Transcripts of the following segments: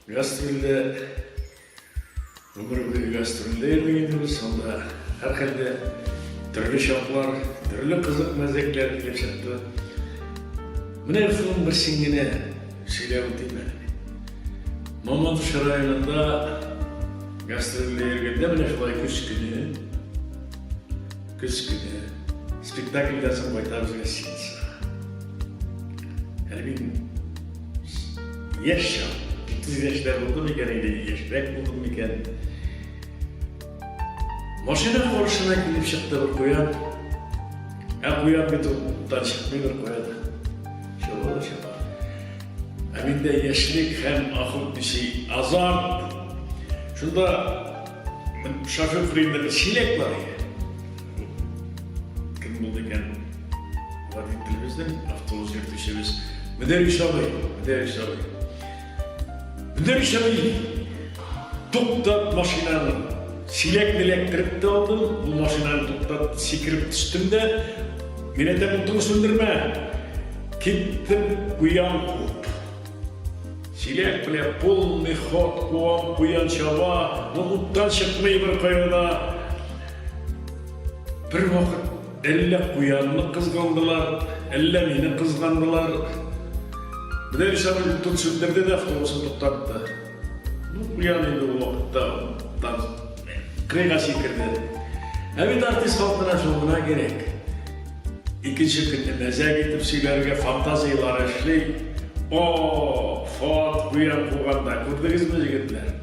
Гастрольдә гомер буе гастрольдә идек инде без, анда һәрхәлдә төрле чаклар, төрле кызык мәзәкләр килеп чыкты. Менә шуның берсен генә сөйләп үтим әле. Мамадыш районында гастрольдә йөргәндә менә шулай көз көне Көз көне спектакльдән соң кайтабыз гостиницага. Әле мин яшь чак, җитез яшьләр булдым икән инде, яшьрәк булдым икән. Машина каршына килеп чыкты бер куян. Ә куян бит ул уттан чыкмый бер куян. Чабала чаба. Ә миндә яшьлек һәм ахыл биши азарт. Шунда Шофер фрейдер чилек бар иде. Кем булды икән? Водителебезнең автобус йөртүчебез. Мөдәрис абый, мөдәрис абый. Мөдәрис абый, туктат машинаны. Чилек беләк кереп тә алдым, бу машинаны туктат, сикереп төштем дә, мин әйтәм, утыру сүндермә. Киттем, куям. Силәк белә полный ход, куам, куян чаба, ноуттан чыкмый бер кайда. Бер вакыт әллә куянны кызгандылар, әллә мине кызгандылар. Менә Ришат утын сүндерде дә автобусы туктатты. Ну, куян инде ул вакытта тан кырыйга сикерде. Ә бит артист халкына шул гына кирәк. Икенче көнне мәзәк итеп сөйләргә фантазияләр эшли. О, фат, буян куганда, күрдегезме, җегетләр?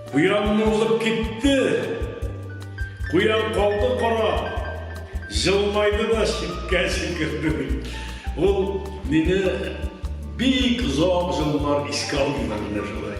Буянны узып китте. Куян калды кара. Җылмайды да читкә сикерде. Ул мине бик озак җыллар искә алып йөрде шулай.